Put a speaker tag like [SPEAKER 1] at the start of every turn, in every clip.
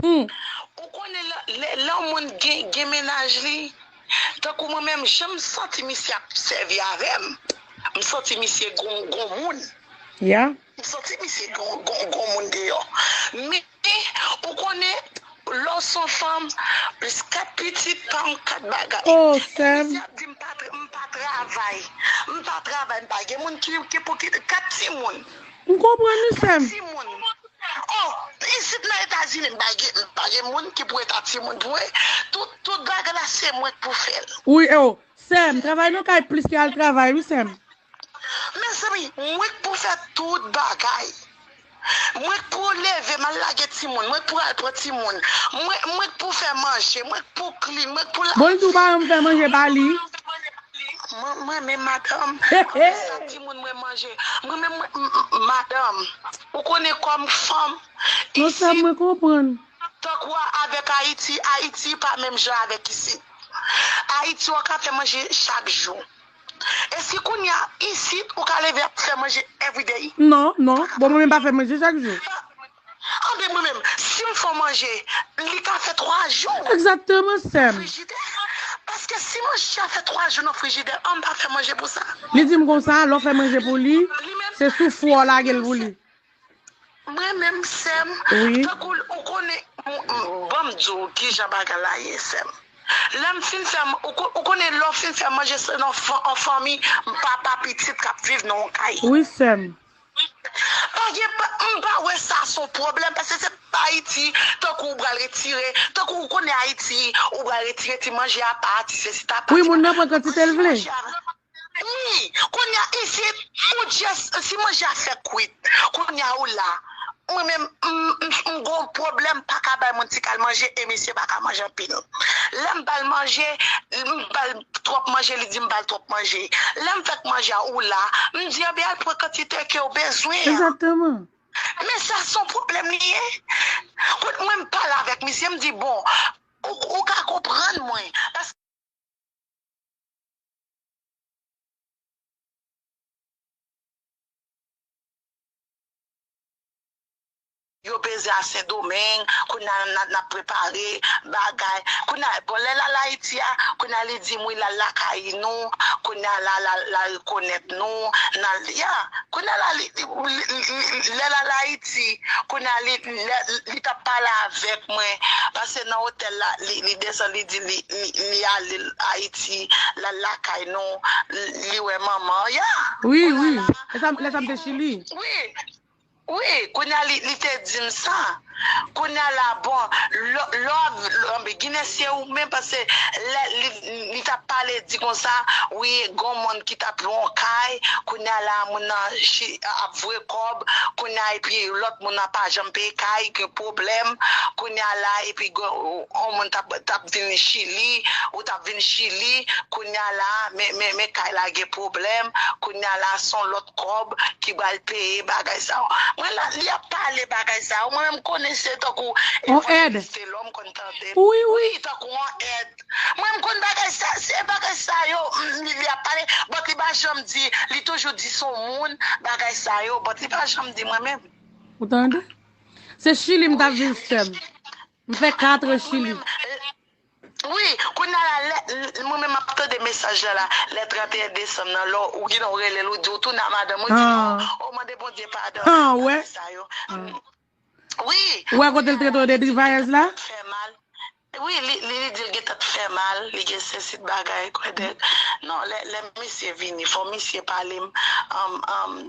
[SPEAKER 1] Ou konnen lè yon moun gen mennaj li tankou mwen menm jan m santi misye ap sèvi avè m m santi misye gon moun. Yeah. M
[SPEAKER 2] santi misye
[SPEAKER 1] gon moun deyò men ou konnen lè w son fanm plis 4 pitit pa yon 4 bagay Oh sèm.
[SPEAKER 2] Misye ap di m
[SPEAKER 1] pa travay m pa travay m pa gen moun ki pou ki 4 timoun. M konprann ou
[SPEAKER 2] sèm. 4 timoun
[SPEAKER 1] oh isit nan etazini m pa gen moun ki pou eta timoun pou mwen tout bagay la se mwen k pou fè l. Wi oh
[SPEAKER 2] sèm travay nan kay plis ke al travay wi sèm. Mezanmi
[SPEAKER 1] mwen k pou fè tout bagay mwen k pou leve mal lage timoun mwen k pou al pran timoun mwen k pou fè manje mwen k pou klin mwen k pou lave Bonjou bayon fè manje
[SPEAKER 2] pa li. Mwen
[SPEAKER 1] renmen madanm mwen sa timoun mwen manje mwen menm mwen madanm ou konnen kòm fanm isi
[SPEAKER 2] tankou a
[SPEAKER 1] avèk ayiti ayiti pa menm jan avèk isit ayiti ou ka fè manje chak jou. E si kounya isit ou ka leve ap fè manje everyday? Non, non. Bon mwen
[SPEAKER 2] menm m pa fè manje chak jou. An ben
[SPEAKER 1] mwen menm, si m fè w manje, li ka fè 3 jou. Exactement sèm.
[SPEAKER 2] Nan frijidè. Paske
[SPEAKER 1] si manje a fè 3 jou nan frijidè an m pa fè manje pou sa. Li di m konsa,
[SPEAKER 2] lè w fè manje pou li, se sou fou a w lage l pou li. Mwen
[SPEAKER 1] menm sèm tankou ou konnen banm diw kijan bagay la ye sèm lèm fin fè ou konnen lèw fin fè manje se nan an fanmi papa pitit kap viv nan yon kay wi sèm
[SPEAKER 2] pa gen m
[SPEAKER 1] pa wè sa son pwoblèm paske se pa ayiti tankou ou pral retire tankou ou konnen ayiti ou pral retire ti manje apa ti sesi ta apa ti sa wi moun nan pran kantitel
[SPEAKER 2] vle. Ii,
[SPEAKER 1] Konnya isi ou just si manje a fèk kwit konnya ou la mwen menm m gon pwoblèm m paka bay moun ti kal manje e misye paka manje anpil lèm bal manje m bal twòp manje li dim bal twòp manje lèm fèk manje a ou la m di anben al pran kantite kew bezwen an Exactement.
[SPEAKER 2] men sa
[SPEAKER 1] son pwoblèm li ye kot mwen m pale avèk misye m di bon ou ka konprann mwen paske. Yo peze a sendomeng kounya nap prepare bagay kounya bon lè lal ayiti a kounya li dim wi lal lakay nou kounya la la rekonèt nou nan ya kounya la li lè lal ayiti kounya li li tap pale avèk mwen pase nan otèl la li desann li di li li ale Haiti lal lakay nou li wè manman ya wi wi
[SPEAKER 2] lè sa m te chili wi
[SPEAKER 1] wi kounya li te dim sa kounya la bon lò anben ginen se ou menm paske lè li tap pale di konsa wi gon moun ki tap lwe yon kay kounya la moun nan ap vwe kòb kounya epi lòt moun nan pa janm peye kay gen pwoblèm kounya la epi. On moun tap vin chili ou tap vin chili kounya la men kay la gen pwoblèm kounya la son lòt kòb ki bal peye bagay sa mwen la li ap pale bagay sa mwen menm konnen se tankou evanjelis telò
[SPEAKER 2] m konn
[SPEAKER 1] tande l wi tankou
[SPEAKER 2] on èd
[SPEAKER 1] mwen m konn bagay sa se bagay sa yo li ap pale but li pa janm di li toujou di son moun bagay sa yo but li pa janm di mwen menm. Ou tande?
[SPEAKER 2] Se chili m tap viv sèm. M fè 4 an chili.
[SPEAKER 1] Wi, kounya la lè mwen menm map tande mesaj la la, lè 31 desanm nan lè ou gin lè ou relel ou di ou tounen a madanm ou di oh oh mande Bondye padon bagay sa yo
[SPEAKER 2] wi
[SPEAKER 1] ou wè kotel trete w de
[SPEAKER 2] drivayèz la
[SPEAKER 1] wi li li dil gentan t fè mal li gen sesi bagay kwè dèk non lè misye vini fò misye pale m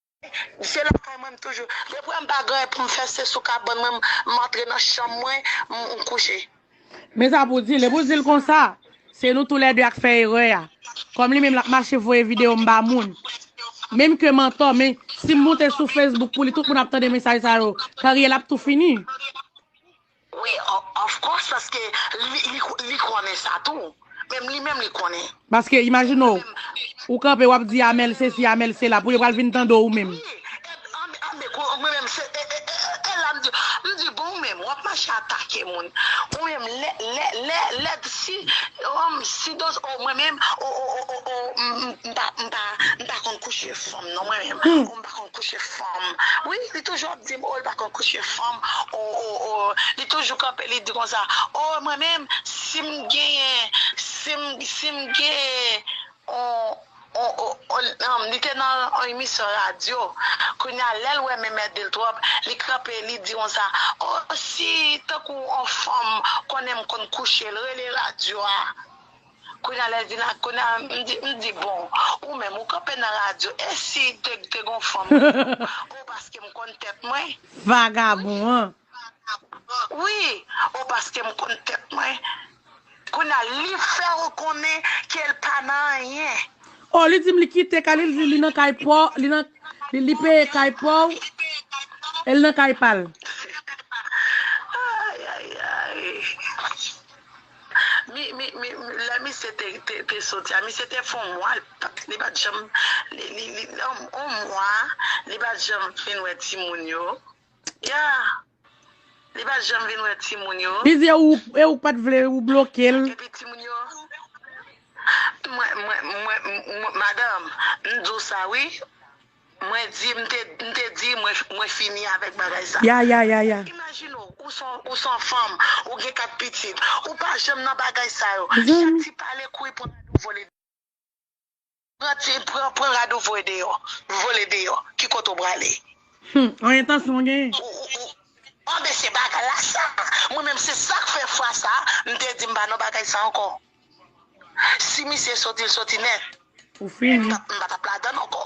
[SPEAKER 1] Se lakay mwen m toujou. Depi m pa gen anyen pou m fè se sou kabann mwen m antre nan chanm mwen m kouche. Men sa pou w
[SPEAKER 2] di l. Epi w di l konsa, Se nou tou lè de a k fè erè a. Kòm li menm l ap mache voye videyo m ba moun. Menm ke m antò, men si m moute sou Facebook pou li tout moun ap tande mesaj sa yo, karyè l ap tou fini.
[SPEAKER 1] Wi of course paske li konnen sa tou menm li menm li konnen. Paske imajine
[SPEAKER 2] w ou kanpe wap di Amel sesi Amel sela pou yo pral vin tande w ou menm. Wi anbe kou mwen menm se e la m di
[SPEAKER 1] m di bon ou menm wap mache atake moun ou menm lè si si dos o mwen menm o o o m pa konn kouche fanm non mwen menm. pa konn kouche fanm wi li toujou ap dim oh li pa konn kouche fanm oh oh oh li toujou kanpe li di konsa oh mwen menm sim genyen sim sim gen on on on li te nan on emisyon radyo kounya lèl wè menm èdel tròp li kanpe li di konsa oh si tankou on fanm konnenm konn kouchel rele radyo a. Kounya lèl vin ak kounya m di bon ou menm ou kanpe nan radyo e si te gon fanm oh paskem konn tèt mwen. Vagabon
[SPEAKER 2] an. Wi
[SPEAKER 1] oh paskem konn tèt mwen kounya li fèw konnen kel pa nan anyen. Oh li dim
[SPEAKER 2] li kite kay li li di li nan kay paw li nan li peye kay paw el nan kay pal.
[SPEAKER 1] Ayayayy. Men lè misye te soti a misye te fè yon mwa li pat janm yon mwa li pat janm vin wè timoun yo ya li pat janm vin wè timoun yo Li di e ou
[SPEAKER 2] pat vle ou blokel. Epi timoun yo
[SPEAKER 1] mwen mwen mwen madanm m di w sa wi. Mwen di, m te, m te di, mwen, mwen fini avèk bagay sa. Ya, ya, ya, ya.
[SPEAKER 2] Imajine w, ou
[SPEAKER 1] s on, ou s on fanm, ou gen kat pitit, ou pa janm nan bagay sa yo. Chak ti pale kouri pran rad ou vole deyò. Pran ti, pran, pran rad ou voye deyò, vole deyò. Ki kote w prale? Hum, on
[SPEAKER 2] entansyon w genyen. Ou, ou, ou.
[SPEAKER 1] Anben se bagay la sa! Mwen menm se sa k fè fwa sa a, m te di m pa nan bagay sa ankò. Si misye soti l soti nèt. Ou fini.
[SPEAKER 2] M pa tap ladann ankò.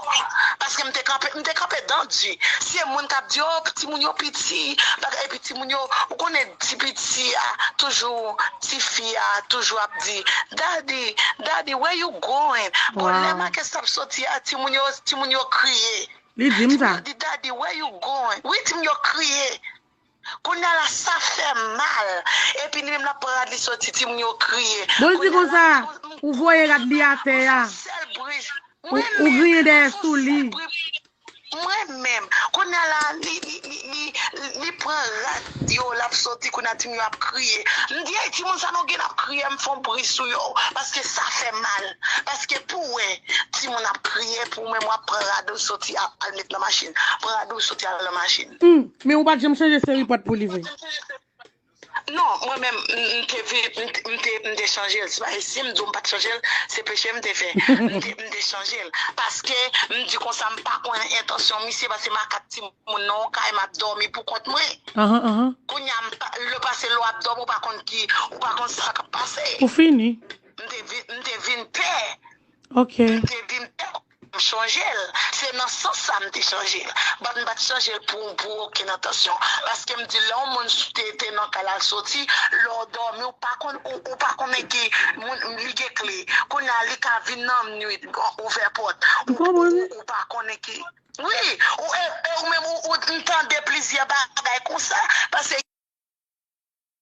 [SPEAKER 1] Paske m te kanpe, m te kanpe dan di. Se moun kap di oh timoun yo piti bagay epi timoun yo ou konnen ti piti a toujou ti fi a toujou ap di daddy daddy where you going bon lè makès tap soti a timoun yo timoun yo kriye. Li dim sa. Timoun yo
[SPEAKER 2] di daddy where you
[SPEAKER 1] going wi timoun yo kriye. Kounya la sa fèm mal epi li menm lap pran rad li soti timoun yo kriye Bon l di konsa,
[SPEAKER 2] ou voye rad li atè a, ou griyen dèyè sou li. Mwen
[SPEAKER 1] menm, kounya la li pran rad yo lap soti kounya timoun yo ap kriye m di ey timoun sa nou gen nap kriye m fon bri sou yo paske sa fèm mal paske pou wè timoun ap kriye pou menm wap pran rad ou soti al met nan machin pran rad ou soti al nan machin. Humm Men ou pat janm
[SPEAKER 2] chanje seri pant pou li vre?
[SPEAKER 1] Non, mwen menm m te vle, m te, m te chanje l. Si m di w m pat chanje l, se peche m te fè. M te, m te chanje l. Paske, m di konsa m pa konnen entansyon misye paske m ak 4 timoun nan yon kay m ap dòmi pou kont mwen. Kounye a, lè w pase lè w ap dòmi ou pa konn ki, ou pa konn sa k ap pase. Ou fini.
[SPEAKER 2] M te vin, m te
[SPEAKER 1] vin pè. Ok. M
[SPEAKER 2] te vin pè.
[SPEAKER 1] M chanje l, se nan sans sa m te chanje l. But m pa t chanje l pou pou okenn entansyon. Paske m di lè yon moun te te nan kay la l soti, lè w dòmi w pa konn ou ou pa konnen ki moun li gen kle. Kounye a li ka vin nan nwit ouvè pòt ou pa konnen ki wi ou e ou menm ou m tande plizyè bagay konsa pase.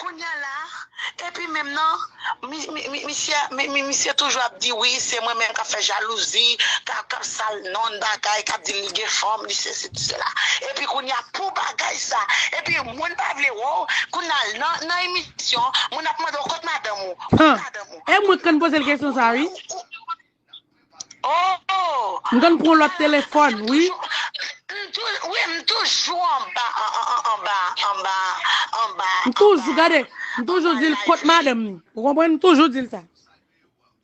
[SPEAKER 1] Kounya la epi menm nan misye toujou ap di wi se mwen menm kap fè jalouzi kap sal nonn bagay kap di li gen fanm li sesi li sela epi kounya pou bagay sa epi moun pa vle wèw kounya nan emisyon moun ap mandew kot madanm ou kot madanm
[SPEAKER 2] ou epi kounya ou ou Ohh.
[SPEAKER 1] M konn pran lot telefon
[SPEAKER 2] wi.
[SPEAKER 1] Wi m toujou anba anba anba anba. M toujou gade
[SPEAKER 2] m toujou dil kot madanm ni ou konprann m toujou dil sa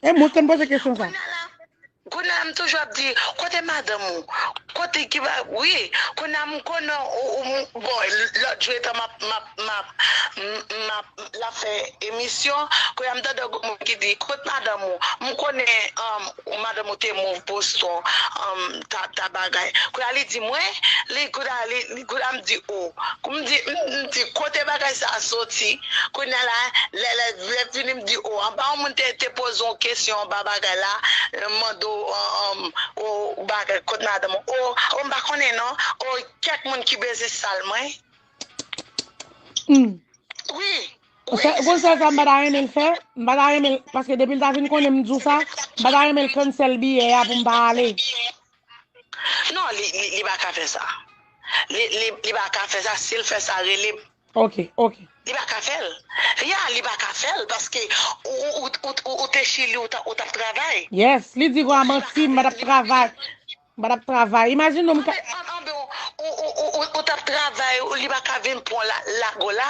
[SPEAKER 2] e mwen konn poze kesyon sa. Kounya
[SPEAKER 1] la m toujou ap di kote madanm ou kote ki ba wi kounya m konnen ou bon lot jou etan map. map map lap fè emisyon kounya m tande yon moun ki di kot madanm ou m konnen madanm ou te move Boston ta bagay kounya li di mwen li kounya li kounya m di o m di m di kote bagay sa soti kounya la lè lè lè fini m di o anba yon moun te te poze yon kesyon anba bagay la mande w o bagay kot madanm ou o m pa konnen non o kèk moun ki bezwen sal mwen. Wi. Konsa
[SPEAKER 2] sa m pa ta renmen l fè, m pa ta renmen l, paske depi l ta fin konnen m di w sa, m pa ta renmen l cancel biyè a pou m pa ale.
[SPEAKER 1] Non, li pa ka fè sa. Li pa ka fè sa, si l fè sa rele m. Ok, ok.
[SPEAKER 2] Li pa ka
[SPEAKER 1] fè l. Ya, li pa ka fè l paske ou te chili ou t ap travay. Yes, li di gwa
[SPEAKER 2] manti m pa t ap travay. M pa tap travay. Imajine m ka. An an ben ou
[SPEAKER 1] tap travay li pa ka vin pran w la lago la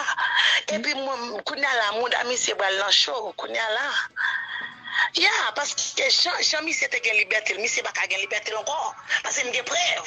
[SPEAKER 1] epi mwen kounya la mouda misye pral nan cho kounya la ya paske jan misye te gen libète l misye pa ka gen libète l ankò paske m gen prèv.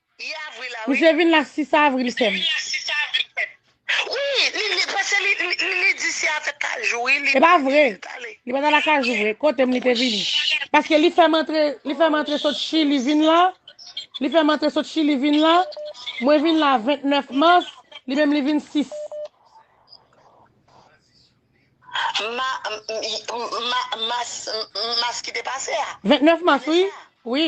[SPEAKER 1] Misye vin la 6 avril
[SPEAKER 2] fèm.
[SPEAKER 1] E pa vre,
[SPEAKER 2] li pa ta la kajou vre, kote m li te vini. Paske li fèm antre, li fèm antre sot chili vin la, li fèm antre sot chili vin la, mwen vin la 29 mars, li menm li vin 6.
[SPEAKER 1] Mas ki te pase a? 29 mars wi,
[SPEAKER 2] wi.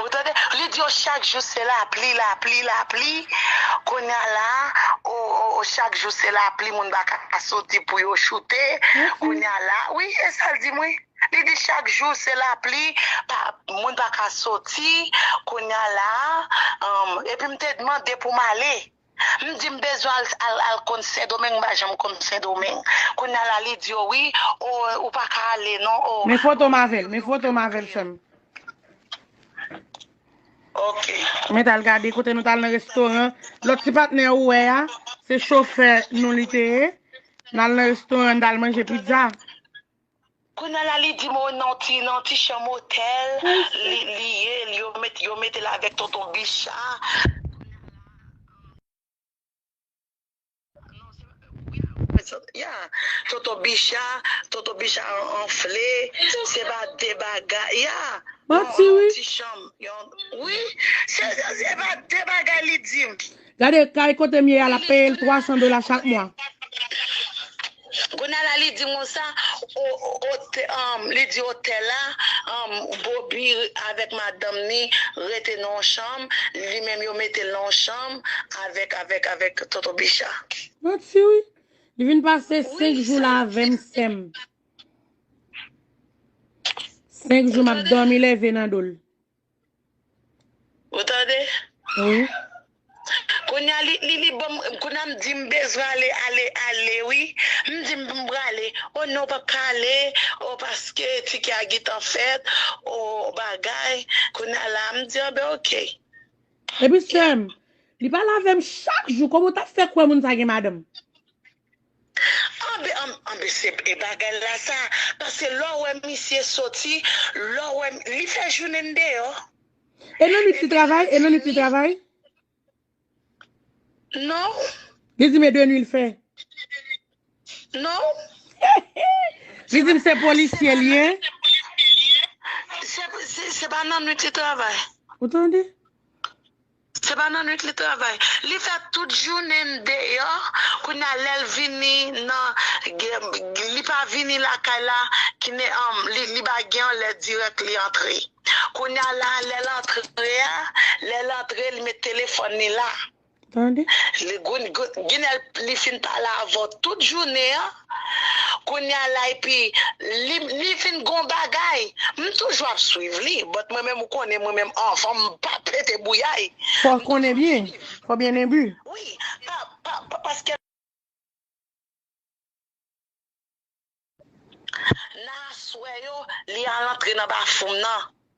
[SPEAKER 2] Ou tande
[SPEAKER 1] li di yo chak jou se lapli lapli lapli kounya la oo chak jou se lapli moun paka soti pou yo choute kounya la wi esal dim wi li di chak jou se lapli moun paka soti kounya la humm epim te mande poum ale. M di m bezwen al konn sendomeng m pa janm konn sendomeng kounya la li di yo wi oo ou paka ale non oo. Men fotom avel men
[SPEAKER 2] fotom avel sem.
[SPEAKER 1] Ok. Met al gade
[SPEAKER 2] kote nou tal nan restoran lot ti patne ou we a se chofè nou li te ye nal nan restoran nou tal manje pizza.
[SPEAKER 1] Kounya la li dim oh nan yon ti chanm otèl li ye yo metel avèk tonton bicha tonton bicha anfle se pa de bagay ya manti wi se pa de bagay li dim. Gade kay kotem
[SPEAKER 2] ye a lap peyel 300 dola chak mwa.
[SPEAKER 1] Kounya la li di konsa li di otèl la Boby avèk madanm ni rete nan yon chanm li menm yo metel nan yon chanm avèk avèk avèk tonton bicha. Manti wi.
[SPEAKER 2] Li vin pase 5 jou la avèm sèm. 5 jou map dòmi lève nan dol.
[SPEAKER 1] Ou tande? Wi. Kounya li li li banm kounya m di m bezwen ale ale ale wi m di m m prale o non ou pap ka ale o paske tike a gentan fèt o bagay kounya la m di anben ok. Epi
[SPEAKER 2] sèm, li pale avèm chak jou, kòman ou tap fè kwè moun sa gen madanm? Anbe
[SPEAKER 1] anbe anbe se e bagay la sa pase lè w wè misye soti lè w wè li fè jounen n deyò E nan nwit
[SPEAKER 2] li travay e nan nwit li travay
[SPEAKER 1] Non Li di m e de
[SPEAKER 2] nwi l fè
[SPEAKER 1] Non
[SPEAKER 2] Li di m se polisye l ye
[SPEAKER 1] Se pa nan
[SPEAKER 2] nwit li
[SPEAKER 1] travay
[SPEAKER 2] Ou
[SPEAKER 1] tande Se pa nan nwit li travay. Li fè tout jounen n deyò kounye a lèl vini nan li pa vini lakay la kine li pa gen yon lè dirèk li antre kounye a la lèl antre a lèl antre li met telefòn li la tande ginèl li fin pale avèw tout jounen an. Kounya la epi li li vin gon bagay m toujou ap swiv li but mwen menm ou konnen mwen menm anvan m pa pete bouyay Fò m konnen toujou byen,
[SPEAKER 2] swiv fò byen imbu. wi pa
[SPEAKER 1] pa pa paske nan aswè yo li al antre nan bafoum nan.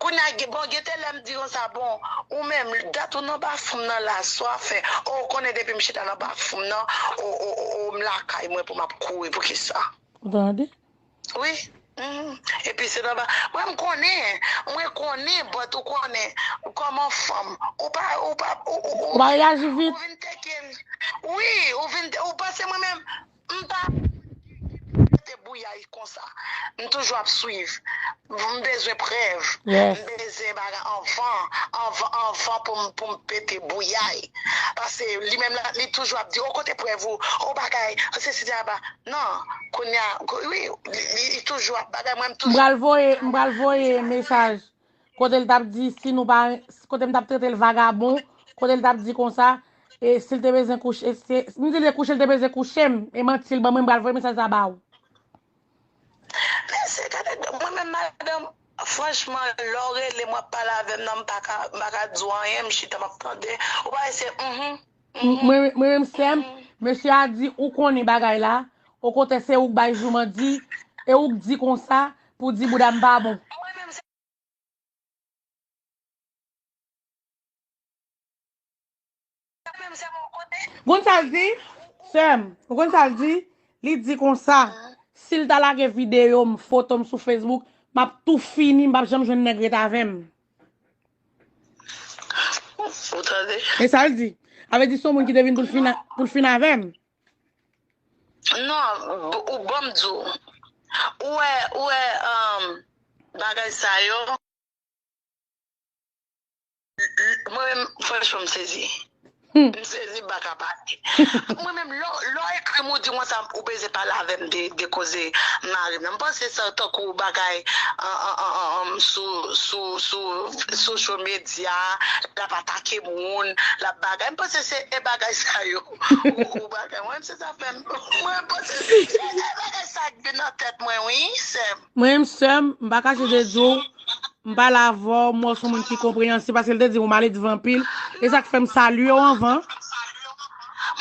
[SPEAKER 1] Kounya bon gete lèm di konsa bon ou menm dat ou nan bafoum nan la swa fè oh ou konnen depim chita nan bafoum nan oh oh oh m lakay mwen pou map kouri poukisa. Ou tande.
[SPEAKER 2] Wi
[SPEAKER 1] humm epi se nan ba mwen m konnen mwen konnen but ou konnen kòman fanm ou pa ou pa ou pa ou pa reyaji
[SPEAKER 2] vit. Ou vin teke
[SPEAKER 1] wi ou vin ou panse mwen menm. M pa konprann ki ki pou mete bouyay konsa m toujou ap swiv m bezwen prèv m bezyen bagay
[SPEAKER 2] anvan
[SPEAKER 1] anvan anvan pou m pou m pete bouyay pase li menm la li toujou ap di oh kote prèv ou oh bagay oh sesi di aba nan kounya wi li toujou ap bagay mwen m toujou m pral voye m pral voye
[SPEAKER 2] mesaj Kote l t ap di si nou pa kote m t ap trete l vagabon, kote l t ap di konsa e si l te bezwen kouche se m di l se kouche l te bezwen kouche m e manti l ban mwen m pral voye mesaj sa ba ou.
[SPEAKER 1] Mesye gade do mwen menm madanm franchman lè w rele m w ap pale avè m nan m pa ka m pa ka di w anyen m chita m ap tande ou pa wè se uhmm. Mwen
[SPEAKER 2] mwen menm sèm, mesye a di ou konnen bagay la, o kontè se ou k bay jouman di, e ou k di konsa pou di bouda m pa bon. Konn sa l di? Sèm, ou konn sa l di? Li di konsa, si l ta lage videyo m, foto m sou Facebook, m ap tou fini, m p ap janm jwenn nèg ret avè m. Ou tande? E sa l di? A vle di son moun ki te vin pou l fin pou l fin avè m. Non,
[SPEAKER 1] ou bon m di w. Ou wè ou wè bagay sa yo mwen menm franchman m sezi. M sezi m paka pale. Mwen menm lè w ekri m ou di m konsa ou bezwen pale avè m de koze mari m nan. M panse sa tankou bagay sou social media l ap atake moun l ap bagay m panse se e bagay sa yo ou bagay mwen menm se sa fè m mwen panse se e bagay sa k vin nan tèt mwen wi sè m. Mwen menm sè m
[SPEAKER 2] m pa kache de di w M pale avè w, m wè w son moun ki konpreyansib, paske l te di m ou male devan anpil, e sa k fè m salye w anvan.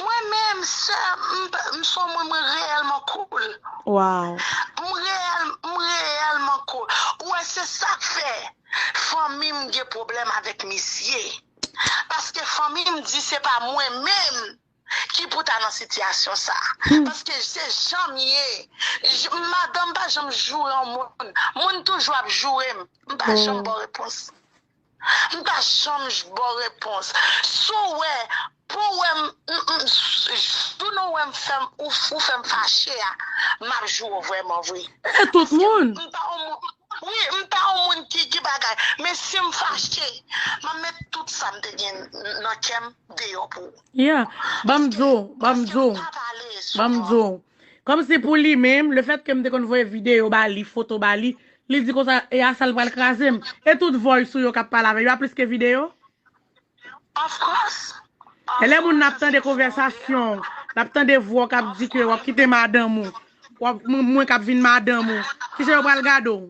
[SPEAKER 1] Mwen menm, sè, m son moun mwen reyèlman cool. Waw!
[SPEAKER 2] M reyèl, m reyèlman
[SPEAKER 1] cool. Ou wè, se sa k fè fanmi m gen pwoblèm avèk misye. Paske fanmi m di se pa mwen menm ki pou ta nan sitiyasyon sa paske se janm ye madanm pa janm joure yon moun moun toujou ap jourem m pa janm baw repons m pa janm baw repons si w wè pou w wèm jou nou wèm fèm ou fèm fache a map joure w vrèman vre e tout moun m
[SPEAKER 2] pa yon moun wi
[SPEAKER 1] m pa yon moun ki ki bagay men sim fache map met tout sam te gen nan kèm deyò pou ou. Yeah, banm
[SPEAKER 2] di w, banm di w, banm di w. Kòm si pou li menm, le fèt ke m te konn voye videyo ba li, foto ba li, li di konsa, e a sa l pral kraze m. E tout voice ou yo k ap pale avè l yo a plis ke videyo? Of
[SPEAKER 1] course! E lè moun nan
[SPEAKER 2] ap tande konvèsasyon w, l ap tande vwa w k ap di ke w ap kite madanm ou, w ap, mwen k ap vin madanm ou, kije yo pral gade w?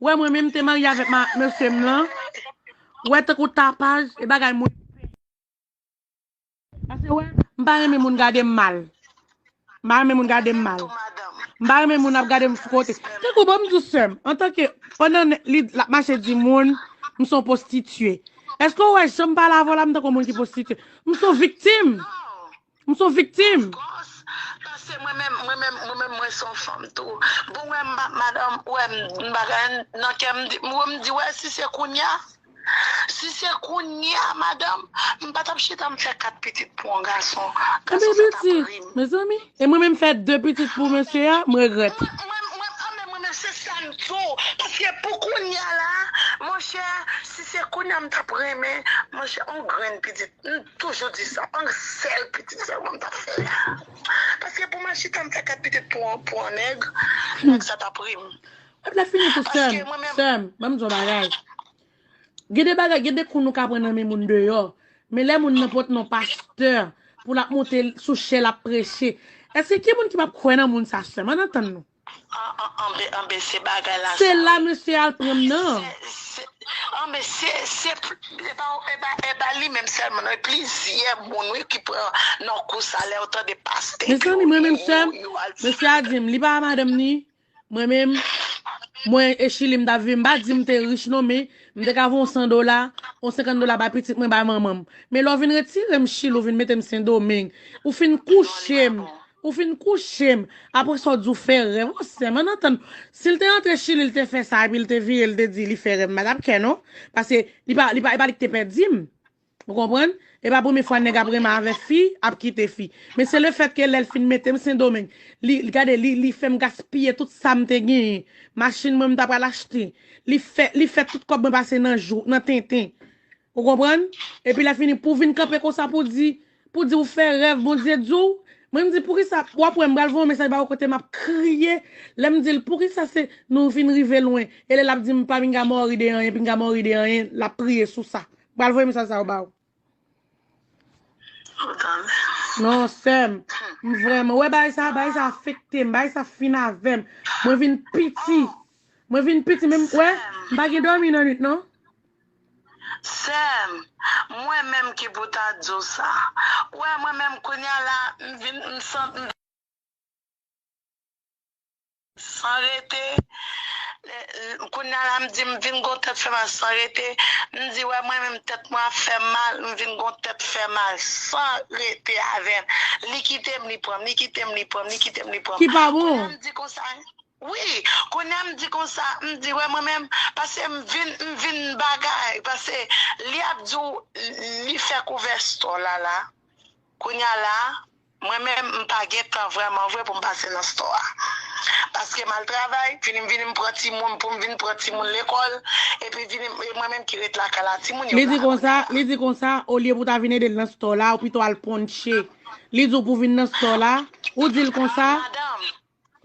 [SPEAKER 2] Wè mwen menm te marye avèk ma mesye m lan wè tankou tapaj e bagay moun pase wè m pa renmen moun gade m mal m pa renmen moun gade m mal m pa renmen moun ap gade m sou kote tankou bon m di w sè m antanke pandan li l ap mache di moun m son postitiye èske w wè jan m pale avè w la m tankou moun ki postitiye m son viktim M son viktim. Of course, paske
[SPEAKER 1] mwen menm, mwen menm, mwen menm mwen son fanm tou. Bon wè m pa madanm, wè m m pa gen anyn nan kè m di, wè m di wè si se kounya, si se kounya madanm, m pa tap chita m fè 4 pitit pou yon gason. Yon bèl pitit,
[SPEAKER 2] mezanmi. E mwen menm fè 2 pitit pou mesye a, m regrèt. Mwen, mwen, an men mwen
[SPEAKER 1] menm se sa m di w, paske pou kounya la, monchè, si se kounya m tap renmen, monchè yon grenn piti. M toujou di sa on sèl pitit sèlman m tap fè paske pou mwen chita m fè 4 pitit pou on nèg nèg sa tap ri m Kote lap fini tou
[SPEAKER 2] sèm sèm banm di w on bagay gen de bagay gen de kou nou ka pran nan men moun deyò men lè moun nan pot non pastè pou lap monte sou chè lap preche èske gen moun ki pap kwè nan moun sa sèm ann antann nou. Anbee
[SPEAKER 1] se bagay la sa wi. Se la mesye al pran
[SPEAKER 2] m nan. Anbee
[SPEAKER 1] se se e pa li menm selman non e plizyè moun wi ki pran nan kou sa lèw tande paste epi yo ri yo al di yo.
[SPEAKER 2] Mesye a dim li pa madanm ni mwen menm mwen e chili m tap viv m pa di m te rich non men m te ka voye yon 100 dola yon 50 dola bay pitit mwen bay manman m men lè w vin retire m chili ou vin mete m sendomeng ou fin kouche m Ou fin kouche m, apre sa w di w fè rèv. O sèm, ann antann nou. Si l te rantre Chili, l te fè sa, epi l te vire, l te di li fè rèv, m pa t ap kè non. Paske, li pa, li pa, e pa li ki te pèdi m. Ou konprann? E pa premye fwa nèg ap renmen avè fi, ap kite fi. Men se lefètke lè l fin mete m Sendomeng, li, gade, li, li fè m gaspiye tout sa m te genyen. Machin mwen m ta pral achte. Li fè, li fè tout kòb mwen pase nan jou, nan tenten. Ou konprann? Epi lè fini pou vin kanpe konsa pou di, pou di ou fè rèv Bondye di w, mwen m di poukisa, wap wè m pral voye yon mesaj ba ou kote map kriye, lè m dil poukisa se nou vin rive lwen, e lè lap di m pa pinga mòri de anyen, pinga mòri de anyen, lap priye sou sa. M pral voye mesaj sa yo ba ou. Ou tande? Non sèm, m vrèman, ou wè bagay sa, bagay sa afekte m, bagay sa fin avè m, mwen vin piti, mwen vin piti menm, ou wè, m pa gen dòmi nan nwit non. Sèm,
[SPEAKER 1] mwen menm ki pou ta diw sa. Ou wè mwen menm kounya la m vin m sant m. San rete, kounya la m di m vin gon tèt fè mal san rete, m di wè mwen menm tèt mwen ap fèm mal m vin gon tèt fè mal san rete avèm li kitem li pranm li kitem li pranm li kitem li pranm Ki pa bon? kounya
[SPEAKER 2] m di konsa
[SPEAKER 1] Wi kounya m di konsa m di wè mwen menm pase m vin m vin bagay pase li ap di w li fè kouvès stò la la kounya la mwen menm m pa gen tan vrèman vre pou m pase nan stò a paske m al travay vini m vini m pran timoun pou m vin pran timoun lekòl epi vini e mwen menm ki ret lakay la timoun yo la kounya la. Li di
[SPEAKER 2] konsa olye pou w ta vin ede l nan stò la ou pito al ponche li di w pou vin nan stò la ou di l konsa. Madanm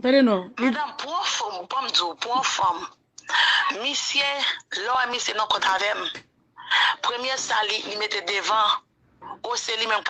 [SPEAKER 2] Tande non.
[SPEAKER 1] Madanm pwan fòm ou banm diw pwan fòm misye lè wè misye nan kont avèm premye sa li li mete devan ou se li menm k.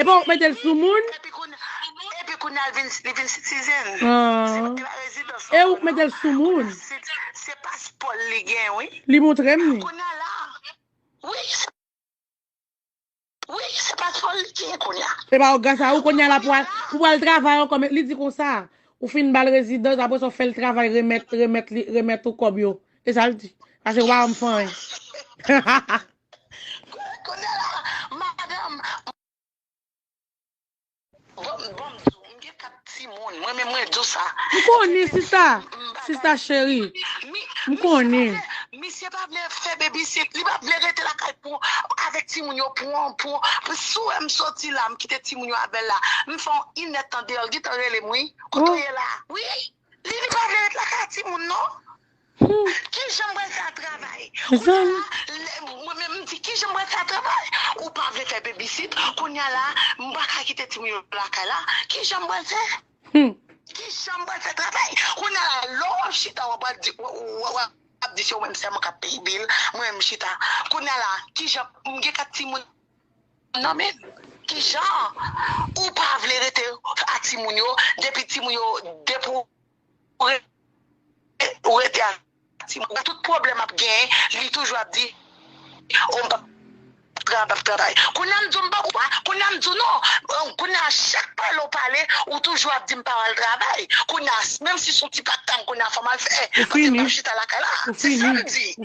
[SPEAKER 2] E pa ou k mete l sou moun? Epi
[SPEAKER 1] kounye a li vin sitizen. E
[SPEAKER 2] ou k mete l sou moun? Se paspò
[SPEAKER 1] l li gen wi. Li montre m li.
[SPEAKER 2] Kounye
[SPEAKER 1] a la. Wi. Wi se paspò l li gen kounye a. E pa ou k gen sa. Ou kounye
[SPEAKER 2] a la pou ou al travay ankò. Li di konsa. Ou fin ba l rezidans apre sa ou fè l travay remèt ou kòb yo. E sa l di? Sa se wa m fanyen. Kounye la,
[SPEAKER 1] madanm. Bon, bon m di w, m gen 4 timoun. Mwen menm mwen di w sa. M konnen sista.
[SPEAKER 2] Sista cheri. M konnen. Misye pa
[SPEAKER 1] vle fè babysit. Li pa vle rete lakay pou avèk timoun yo pou yon pou. Si w wè m soti la, m kite timoun yo avè l la. M fè yon inèdtan deyò, l gen tan rele m wi. Kote w ye la? Wi. Li di pa vle ret lakay a timoun non. Kijan m pral fè a travay. Kounya la mwen menm m di kijan m pral fè a travay. Ou pa vle fè babysit kounya la m pa ka kite timoun yo lakay la kijan m pral fè. Kijan m pral fè travay. Kounya la lè w ap chita w ap di wap di se ou menm sèlman k ap peye bill mwen m chita. Kounya la kijan m gen 4 timoun. Nan men kijan ou pa vle rete a timoun yo depi timoun yo depi ou rete ou rete a timoun yo tout problèm map gen li toujou ap di oh mpap travay kounya mdi w mpap ou pa kounya mdi w non kounya chak pale ou pale ou toujou ap di m pa al travay kounya menm si son ti patt tanm kounya fòm al fè paske mpap chita lakay la se sa mdi.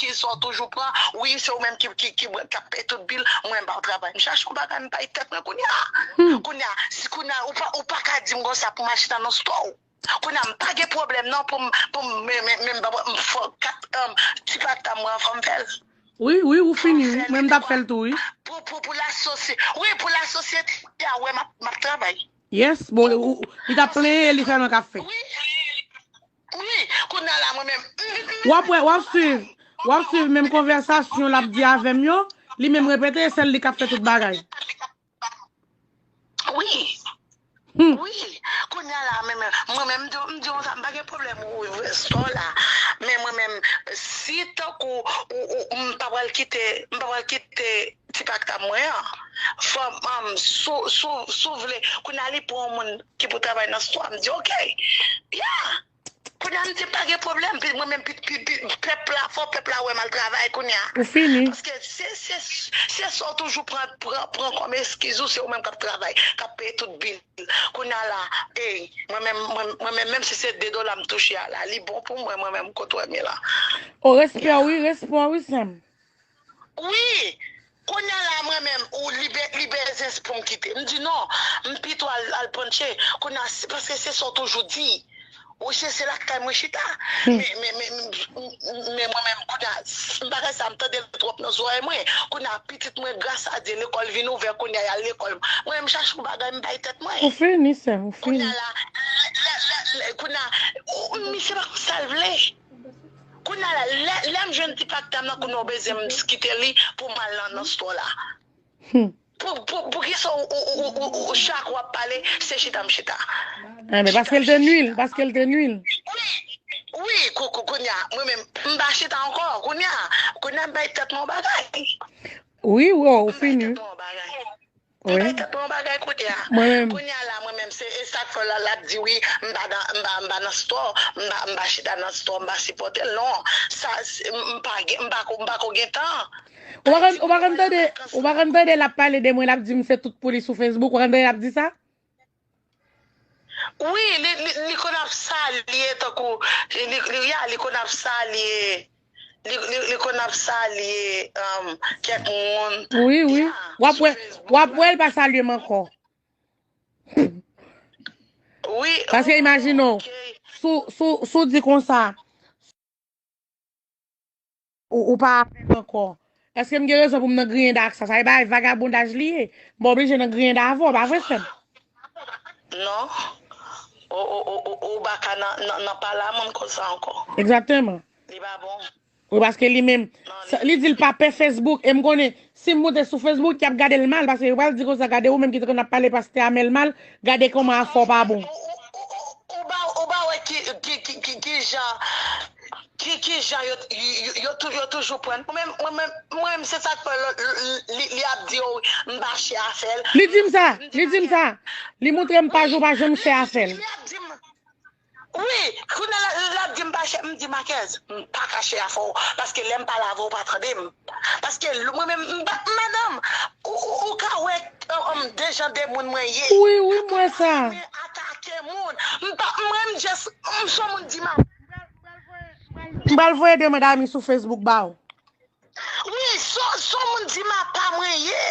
[SPEAKER 1] Skill sa w toujou pran wi se ou menm kap peye tout bil mwen m pa travay m chache yon bagay m bay tèt mwen kounya kounya si kounya ou paka dim konsa pou m achte nan nan stò w kounya m pa gen pwoblèm nan pou m pou m men m fò kat ti pata mwen an fò m fè l wi wi ou
[SPEAKER 2] fini wi mwen m tap fè l tou wi pou la sosye
[SPEAKER 1] wi pou la sosyete a wè map travay yes bon
[SPEAKER 2] li tap plenyen e li sèlman kap fè.
[SPEAKER 1] Ui kounya la mwen menm humm. Wap wè wap swiv
[SPEAKER 2] wap swiv menm konvèsasyon lap di avèm yo li menm repete e sèl li kap fè tout bagay.
[SPEAKER 1] Ui ui kounya la mwen menm mwen menm m diw m diw sa m pa gen pwoblèm ou ouvè sò la men mwen menm si tankou ou ou m pa pral kite m pa pral kite Ti pakta mwen an fòm sou vle kounye a li pran yon moun ki pou travay nan sto a m di ok ya kounye a m di pa gen pwoblèm mwen menm pèp la fò pèp la wè m al travay kounye a paske se sa w toujou pran kòm eskiz ou se ou menm k ap travay k ap peye tout bil kounye a la ey mwen menm menm si se 2 dola m touche a la li bon pou mwen mwen menm kot w wè m ye la. O respè
[SPEAKER 2] wi respè wi sè m. Wi!
[SPEAKER 1] Kounya la mwen menm ou li be li bezens poum kite m di non m pito al al pran tchè kounya paske se sa w toujou di ou se se lakay mwen chita men men men men mwen menm kounya bagay sa m tande l twòp nan zorèy mwen kounya pitit mwen gras a Dye lekòl vin ouvè kounya y al lekòl mwen menm chache yon bagay m bay tèt mwen Ou fini sèm ou
[SPEAKER 2] fini. kounya
[SPEAKER 1] la lè lè lè kounya misye pa konn sa l vle. Kounya la lèm jwenn ti paktam nan kounya ou bezyen m skitel li poum al nan store la pou kisa ou chak wap pale se chita m chita Ebyen
[SPEAKER 2] paskel te nwil paskel te nwil
[SPEAKER 1] Wi kounya mwen menm m pa chita ankò kounya kounya m bay tèt mwen yon bagay Wi
[SPEAKER 2] ou fini Li
[SPEAKER 1] bay tèt mwen yon bagay kounye a. Kounye a la mwen menm se e sak fè la lap di wi m pa nan m pa m pa nan store m pa chita nan store m pa sipòte l non sa m pa gen m pa ko m pa ko gen tan. Ou pa konn ou pa konn tande
[SPEAKER 2] ou pa konn tande lap pale de mwen lap di m se tout pou li sou Facebook ou pa konn tande lap di sa.
[SPEAKER 1] Wi li konn ap salye tankou ya li konn ap salye li konn ap salye kèk moun ya sou
[SPEAKER 2] facebook la. Wi wap wèl pa salyem ankò.
[SPEAKER 1] Wi ok. Paske imajine
[SPEAKER 2] w, si w di konsa. Ou pa avèm ankò. Eske m gen rezon pou m nan griyen da ak sa? Sa e bagay vagabondaj li ye. M pa oblije nan griyen da avè w, pa vre frè m?
[SPEAKER 1] Non. Ou pa ka nan pale a moun konsa ankò. Egzakteman. Li
[SPEAKER 2] pa
[SPEAKER 1] bon. Wi paske li menm.
[SPEAKER 2] Li di l pa pè Facebook e m konnen Sim moute sou Facebook yap gadel mal paske yo pral di konsa gade ou menm ki t konn ap pale pastè Amel mal gade koman afè w pa bon. Ou
[SPEAKER 1] pa wè kijan kijan yo toujou prann pou menm mwen menm se sak fè li ap di yo m pa chè afèl. Li dim sa, li
[SPEAKER 2] dim sa, li moutrem paj ou pa janm chè afèl.
[SPEAKER 1] Wi, kounye la lap dim pa chè, m di Makèz, m pa ka chè afè w, paske lèm pale avè w ou pa tande m, paske mwen menm m pa madanm, ou ka wè de jan de moun mwen ye, m pa renmen
[SPEAKER 2] atake moun,
[SPEAKER 1] m pa mwen m just m son moun di m ap.
[SPEAKER 2] M pral voye de mwen dami sou Facebook ba w.
[SPEAKER 1] Wi son moun di ma pa mwen ye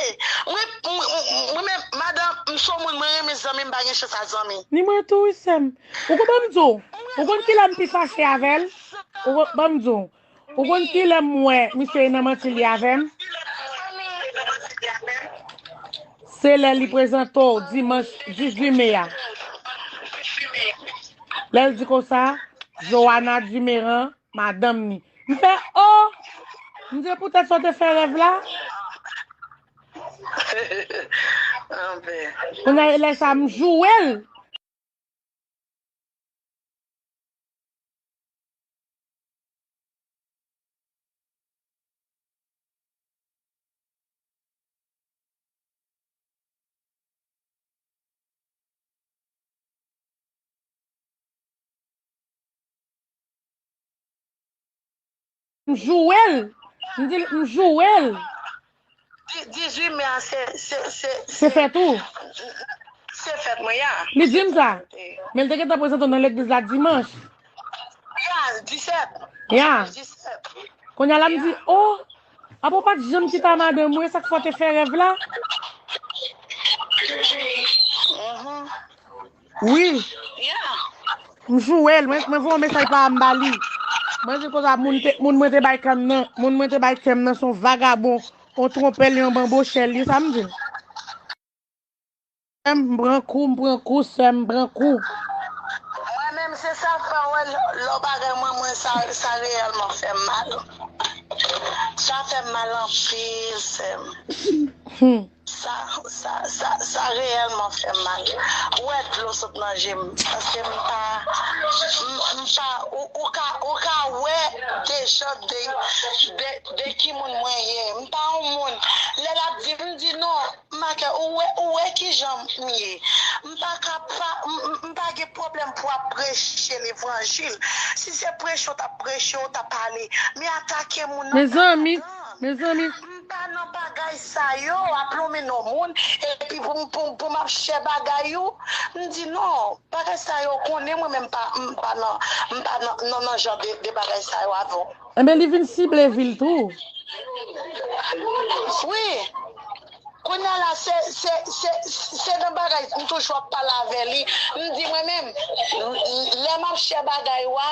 [SPEAKER 1] mwen menm madan m son moun mwen renmen zanmi m pa gen chans a zanmi. Ni mwen tou wi sèm.
[SPEAKER 2] Ou konn banm diw ou konn kilè m pi fache avèl ou konn banm diw ou konn kilè m wè misye nan manti li avèm se lè li prezante w dimanch 18 mai a lèl di konsa Joana Dumeran madanm ni M fè oh! M di poutèt sa w te fè rèv la. Kounya e lè sa m joure l. M jouwe l! M di l, m jouwe l! 18
[SPEAKER 1] me a se, se, se. Se
[SPEAKER 2] fèt ou? Se
[SPEAKER 1] fèt mwen ya. Li di m sa.
[SPEAKER 2] Men l te gentan prezante w nan legliz la dimanch.
[SPEAKER 1] Ya, 17. Ya. Kounya la m di,
[SPEAKER 2] o! Apa w pa t janm chita madanm ou e sa k fè w te fè rèv la? Wi.
[SPEAKER 1] M
[SPEAKER 2] jwe l. Mwen voye yon mesaj pa m ba li. Mwen di l konsa, moun mwen te bay kè m nan se yon vagabon, yon twonpè l, yon banbochè l. Li sa m di l. Sè m, m pran kou, m pran kou, sè m, m pran kou. Mwen
[SPEAKER 1] menm se sa k fè w wè lò bagay mwen mwen sa reyèlman fè m mal. Sa fè m mal anpil sè m. Sa sa sa sa reyèlman fèm mal wè dlo sot nan jem paske m pa m pa ou ou ka ou ka wè dejan de de de ki moun mwen ye m pa yon moun lè lap di m di non make ou wè ou wè kijan m ye m pa ka pa m pa gen pwoblèm pou ap preche levanjil si se preche w tap preche w ta pale men atake moun nan ta Mezanmi
[SPEAKER 2] mezanmi.
[SPEAKER 1] Pa nan bagay sa yo, ap lonmen non moun, epi pou m ap chè bagay ou. M di non, bagay sa yo, ou konnen mwen menm m pa nan jan de bagay sa yo avè w. Enben li vin sible
[SPEAKER 2] vil tou.
[SPEAKER 1] Wi. Kounye a la, se nan bagay sa, m toujou ap pale avè li. M di mwen menm, lè m ap chè bagay ou a.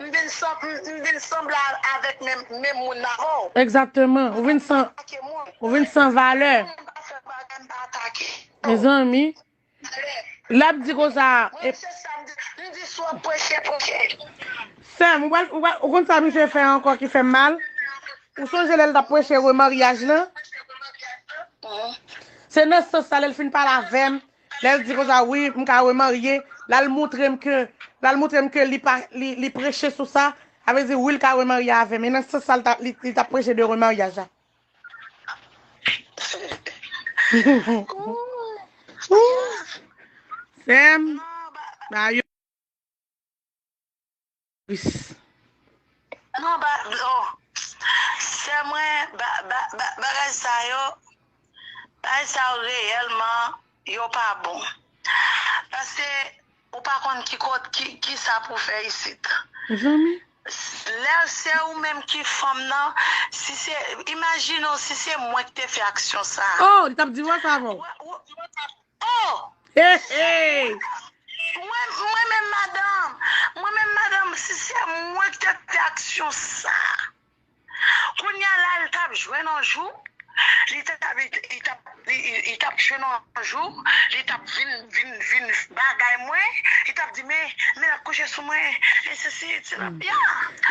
[SPEAKER 1] M vin m vin sanble avèk menm menm moun nan ho. Exactement ou
[SPEAKER 2] vin san ou vin san valè. Pou moun pa fè bagay m pa atake. Mezanmi lap di konsa. Mwen se sa m di m di si w ap preche preche. Sèm ou pral ou pral ou konn sa misye fè ankò ki fèm mal ou sonje lèl tap preche remaryaj lan se nan sans sa lèl fin pale avèm Lèl di konsa wi m ka remarye lal moutrem ke lal moutrem ke li pa li preche sou sa sa vle di wi li ka remarye avèm e nan sans sa li tap preche de remaryaj la. Sèm ba yo.
[SPEAKER 1] Plis. Non ba oh sè mwen ba ba ba bagay sa yo bagay sa yo reyèlman yo pa bon paske ou pa konn ki kot ki kisa pou fè isit Mezanmi.
[SPEAKER 2] lè
[SPEAKER 1] se ou menm ki fanm nan si se imajine w si se mwen ki te fè aksyon sa Oh li tap divorce
[SPEAKER 2] avèw.
[SPEAKER 1] Oh!
[SPEAKER 2] Hey! Mwen, mwen menm
[SPEAKER 1] madanm, mwen menm madanm si se mwen ki tap fè aksyon sa, kounya la li tap jwenn yon jou, li tap, li tap, li tap jwenn yon jou, li tap vin, vin, vin bagay mwen, li tap di men, men lap kouche sou mwen, men sesi, se la, ya!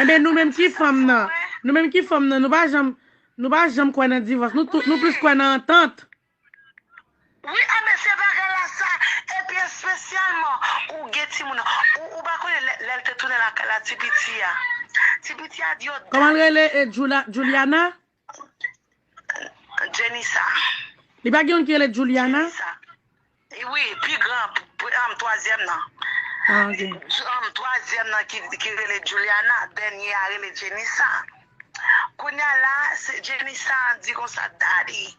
[SPEAKER 1] Enben nou menm
[SPEAKER 2] ki fanm nan, nou menm ki fanm nan nou pa janm, nou pa janm kwè nan divòs, nou tout, nou plis kwè nan antant.
[SPEAKER 1] Wi a mesye bagay la sa epi espesyalman ou gen timoun ou pa konnen lèl te tounen lakay la ti piti a ti piti a di yo dat Komanl rele e
[SPEAKER 2] Juliana?
[SPEAKER 1] Jenisa. Li pa gen
[SPEAKER 2] youn ki rele Juliana? Jenisa
[SPEAKER 1] wi pi gran an twazyèm nan Ah ok. Twazyèm nan ki rele Juliana
[SPEAKER 2] dènye
[SPEAKER 1] a rele Jenisa. Kounya la se Jenny sa di konsa Daddy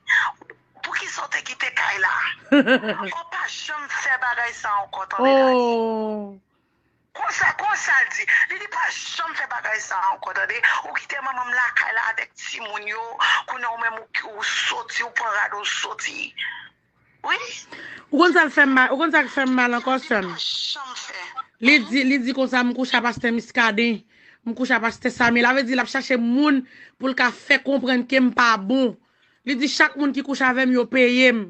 [SPEAKER 1] poukisa ou te kite kay la ou pa janm fè bagay sa ankò tande Daddy
[SPEAKER 2] konsa
[SPEAKER 1] konsa l di li di pa janm fè bagay sa ankò tande ou kite manman m lakay la avèk timoun yo kounya ou menm ou soti ou pran rad ou soti. Ou konn
[SPEAKER 2] sa fèm mal, ou konn sak fèm mal ankò sèm.
[SPEAKER 1] Li di, li di
[SPEAKER 2] konsa m kouche a pastè Muscadin, m kouche a pastè Samy, la vle di lap chache moun pou l ka fè konprann kem pa bon. Li di chak moun ki kouche avèm yo peyem.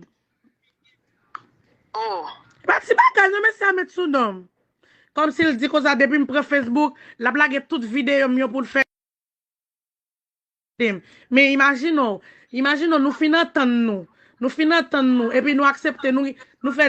[SPEAKER 1] E pa ti bagay non
[SPEAKER 2] mesye a met sou donm. Kòmsi l di konsa depim pran Facebook, lap lage tout videyo m yo poul fè. Dem. Men imajine w, imajine w nou fin antann nou, nou fin antann nou epi nou aksepte nou, nou fè.